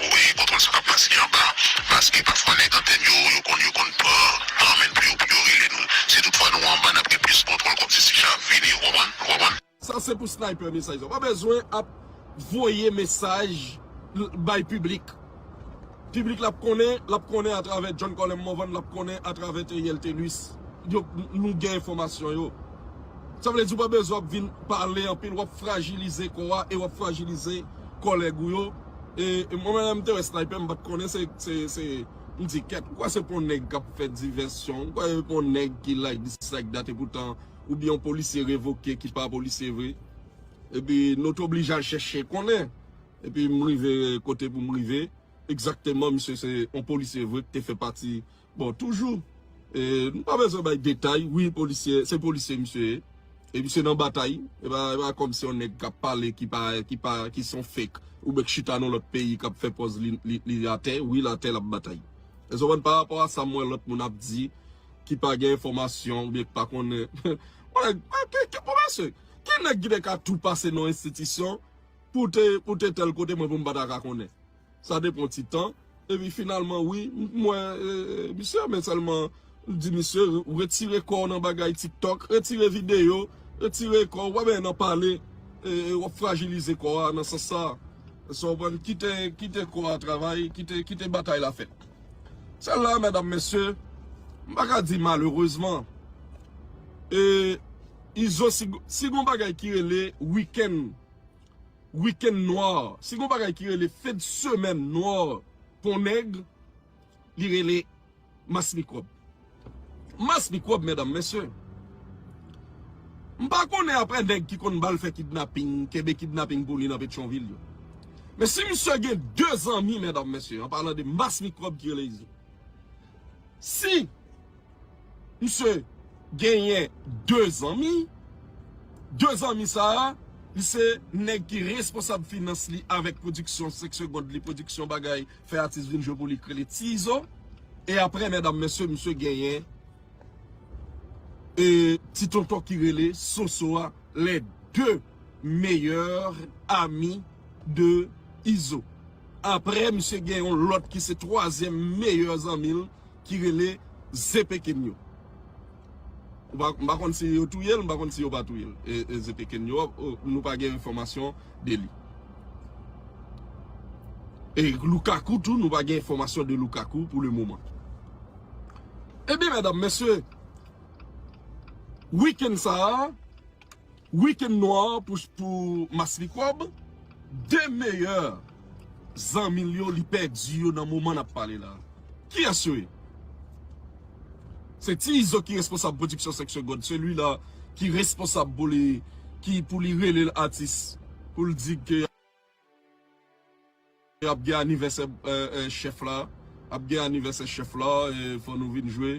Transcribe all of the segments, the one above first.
Wi kontwòl sa kap pase anba paske pafwa nèg antèn yo yo konn yo konn pran tan menn pou yo pou yo rele nou si tout fwa nou anba nap gen plis kontwòl kòm ti sisha ap vini ou konprann ou konprann. Sa se pou sniper mesaj sa. Ou pa bezwen ap voye mesaj bay piblik. Piblik la ap konnen, l ap konnen atravè John Colem Morvan, l ap konnen atravè Theriel Thelus. Yo nou gen enfòmasyon yo. Sa vle di ou pa bezwen ap vin pale anpil, w ap frajilize kò a e w ap frajilize kòlèg ou yo. E mwen menm lè m te wè Sniper m pat konnen se se m di kèt ou kwè se pou yon nèg kap fè divèsyon ou kwè se pou yon nèg ki like dis like dat epoutan ou byen yon polisye revoke ki pa polisye vre epi nou te oblije al chèche konnen epi m rive kote pou m rive egzakteman misye se yon polisye vre ki te fè pati Bon toujou Nou pa bezwen bay detay wi polisye se polisye misye ye e misye nan batay e pa kòm se yon nèg kap pale ki pa ki pa ki son fek oubyen k chita nan lòt peyi kap fè pòz li atè wi l atè lap batay èske w konprann pa rapò a sa m wè lòt moun ap di ki pa gen enfòmasyon oubyen ki pa konnen ki nèg ki te ka tou pase nan enstitisyon pou te pou te tèl kote mwen pou m pa ta ka konnen. sa te pran ti tan, epi finalman wi m t wè misye men sèlman m t di misye retire kòw nan bagay tiktok, retire videyo, retire kòw pa benyen nan pale wap frajilize kò a nan sans sa, èske w konprann, kite kite kò a travay, kite batay la fèt. Sèl la medam mesye m pa ka di malerezman e izo si gon bagay ki rele weekend. Week-end noir. Si gon bagay ki rele fen de semaine noir pou yon nèg, li rele mass mikwòb. Mass mikwòb medam, mesye. M pa konnen aprè nèg ki konn bal fè kidnapping, kenbe kidnapping pou li nan Petyonvil yo. Men si misye gen 2 zanmi medam, mesye, an palan de mass mikwòb ki rele Izo. Si. Misye genyen 2 zanmi, 2 zanmi sa a, li se nèg ki responsab finans li avèk pwodiksyon 5 segond li, pwodiksyon bagay fè atis vin jwe pou li ki rele Ti Izo. E aprè mèdam mesye, misye genyen e ti tonton ki rele Soso a, les deux meilleurs amis de Izo. Aprè misye gen yon lòt ki se twazyèm meyè zanmi l. ki rele Zepeken yo. M pa konn si yo touye l, m pa konn si yo pa touye l. E Zepeken yo, nou pa gen enfòmasyon de li. E Lukaku tou, nou pa gen enfòmasyon de Lukaku pou le moman. E bi, mèdam, mèsye, wikèn sa a, Weekend noir pou mass mikrob. 2 meyè zanmi l yo li pèdi yo nan moman nap pale la. Kiyès yo ye? Se ti izo ki responsab production 5 secondes se li la ki responsab pou li ki pou li rele l atis pou l di ke Ap gen anivèsè chèf la ap gen anivèsè chèf la fò nou vin jwe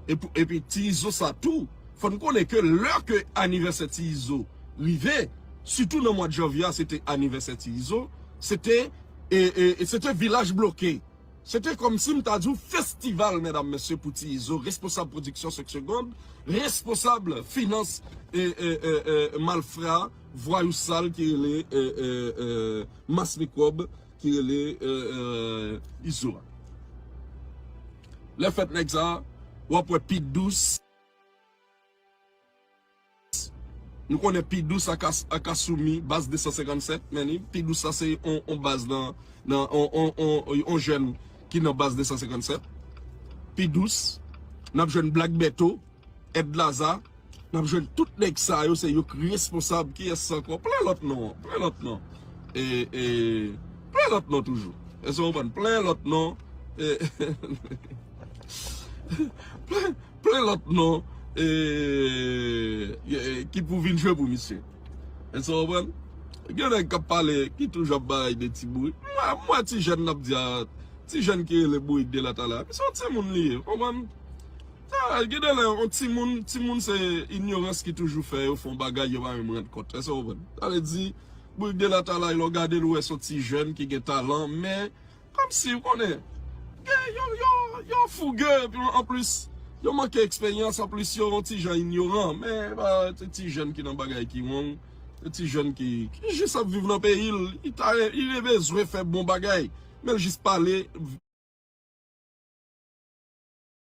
epi ti izo sa tou fò n konnen ke lè ke anivèsè ti izo rive sitou nan mwad janvye a se te anivèsè ti izo se te se te vilaj bloke se te kòmsi m ta di w festival medam mesye pou ti izo responsab pwodiksyon 5 segond responsab finans malfra. Vwayou sal ki rele mass mikwòb ki rele izo a. Lè fèt nèg sa wap wè pi dous. Nou konnen pi dous ak asoumi baz 257 men ni pi dous sa se yon baz nan yon jèn ki nan baz 257. Pi dous nap jwenn black bertho. Ed laza nap jwenn tout neg sa yo se yok responsab kiyes anko plen lot non plen lot non ee plen lot non toujou eske nou konprann plen lot non ee plen lot non ee ki pou vin jwe pou misye eske nou konprann gen neg kap pale ki toujou ap bay de ti bourik m wè ti jen nap di a ti jen ki rele bourik de la tala misye yon ti moun li ye ou konprann. Ahh gendelè yon timoun, timoun se inyorans ki toujou fè yo fè yon bagay yo pa menm rann kont, èske w konprann? Sa vle di, Bourg de Latalay lè w gade l ou wè se yon ti jèn ki gen talan men kòmsi ou konnen gen yo yo yo fouge epi anplis yo manke eksperyans anplis yo yon ti jan inyoran men epa se ti jèn ki nan bagay ki wrong se ti jèn ki ki jis ap viv nan peyi l li ta re li re bezwen fè bon bagay men l jis pale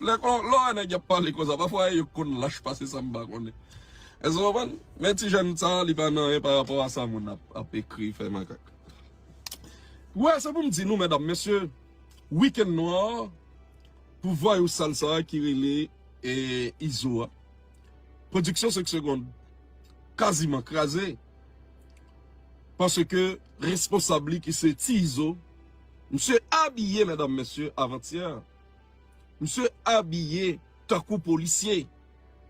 Lè kon lè w wè nèg y ap pale konsa pafwa e yo konn lach pase sa m pa konnen. Èske w konprann? Men ti jèn sa li pa nan anyen pa rapò a sa moun ap ekri fè makak. Ou wè se pou m di nou medam mesye weekend nwa pou vwayou sal sa ki rele Izo a Production 5 secondes kaziman kraze paske responsab li ki se Ti Izo misye abiye medam mesye avantyè. Misye abiye tankou polisye.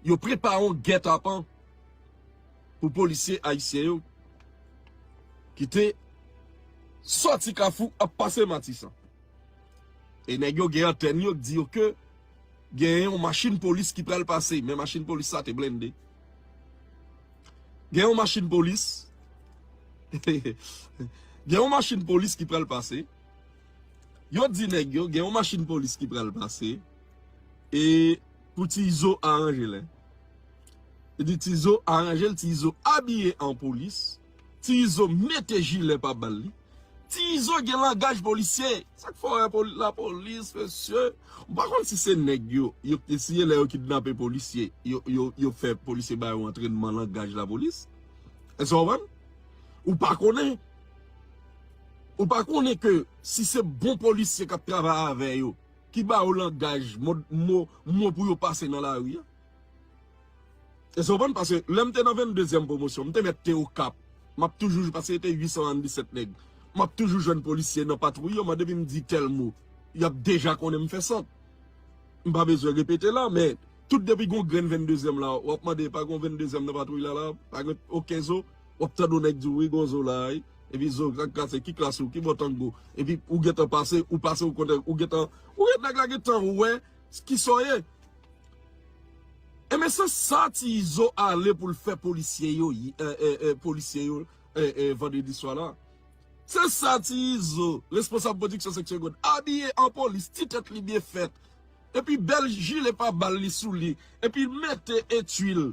Yo prepare yon gètapan pou polisye ayisyen yo ki te sòti Kafou ap pase Matisan. E nèg yo gen antèn yo k di yo ke gen yon machin polis ki pral pase, men machin polis sa te blende. Gen yon machin polis, gen yon machin polis ki pral pase. Yo di nèg yo gen yon machin polis ki pral pase e pou ti izo aranje lè yo di ti izo aranje l ti izo abiye an polis ti izo mete jilè pa bal li ti izo gen langaj polisye sa k fè w wè lapolis mesye m pa konn si se nèg yo yo k te siye lè yo kidnape polisye yo fè polisye ba yo antrenman langaj lapolis èske w konprann ou pa konnen Ou pa konnen ke si se bon polisye kap travay avè yo ki ba yo langaj mo pou yo pase nan lari a? Èske w konprann? Paske lè m te nan 22 zièm pwomosyon, m te mèt te Okap, m ap toujou jwenn, paske se te 877 nèg, m ap toujou jwenn polisye nan patwouy yo, mande vin m di tèl mo, y ap deja konnen m fè sant. M pa bezwen repete la, men tout depi gon grenn 22 zièm la, w ap mande pa gon 22 zièm nan patwouy la la, pa gen oken zo? Wap tande yon nèg diw wi gonzo la wi epi zo ak kase ki klas ou ki bò tango epi ou gentan pase ou pase ou konn ou gentan ou gen nèg la gentan wè kisa w ye enben se sa ti izo ale pou l fè polisye yo polisye yo vandredi swa la se sa ti izo responsab pwodiksyon seksyon god abiye an polis ti tèt li byen fèt epi bèl jile pa bal li sou li epi l mete etui l.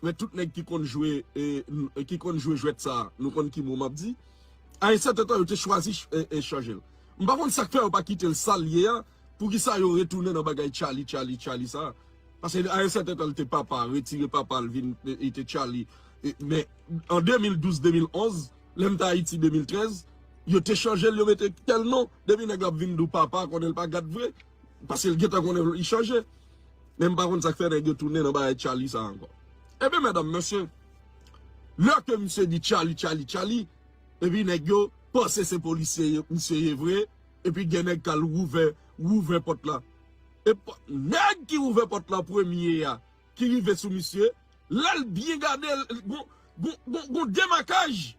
Men tout nèg ki konn jwe ki konn jwe jwèt sa a, nou konn ki mo m ap di. A yon sèten tan yo te chwazi chanje l. M pa konn sa k fè yo pa kite l sa l ye a, poukisa yo retounen nan bagay Tchaly Tchaly Tchaly sa a. Paske a yon sèten tan li te papa, retire papa l vin li te Tchaly. Men an 2012, 2011, lè m te Ayiti 2013, yo te chanje l yo mete tèl non. Depi nèg la ap vin di w papa konnen l pa gad vre. Paske l gentan konnen li chanje. Men m pa konn sa k fè nèg yo tounen nan bagay Tchaly sa ankò. Ebyen medam mesye, lè ke misye di Tchaly, Tchaly, Tchaly, epi nèg yo panse se polisye misye ye vre, epi gen nèg k al ouvè, ouvè pòt la. E nèg ki ouvè pòt la an premye a, ki rive sou misye, lè l byen gade l, gon, gon, gon, gon demakaj.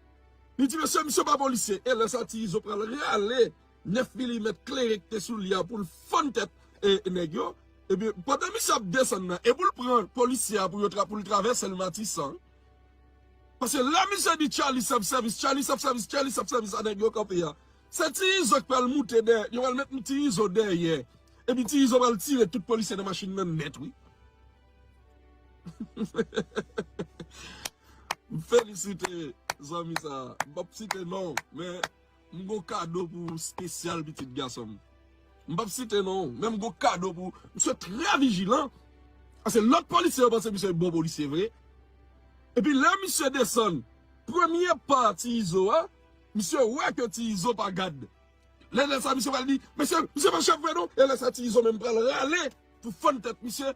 Li di mesye, misye pa polisye. E lè sa ti Izo pral rale 9 milimèt klere ki te sou li a pou l fann tèt nèg yo. Ebyen, pandan misye ap desann nan e pou l pran polisye a pou yo pou l travèse l Matisan. Paske lè misye di Charly self service, Charly self service, Charly self service a nèg yo kanpe a, se Ti Izo ki pral moute dèyè, yo pral met Ti Izo dèyè. Epi Ti Izo pral tire tout polisye nan machin nan nèt wi. M felisite zanmi sa a. M pap site non, men. M gon kado pou ou spesyal pitit gason m. M pap site non ou, men m gon kado pou ou. Misye trè vijilan, pase lòt polisye yo panse misye bon polisye vre. Epi lè misye desann premye pa Ti Izo a, misye wè ke Ti Izo pa gad. Lè lè sa misye pral di, mesye, misye pa chèf vre non. E lè sa Ti Izo menm pral rale pou fann tèt misye.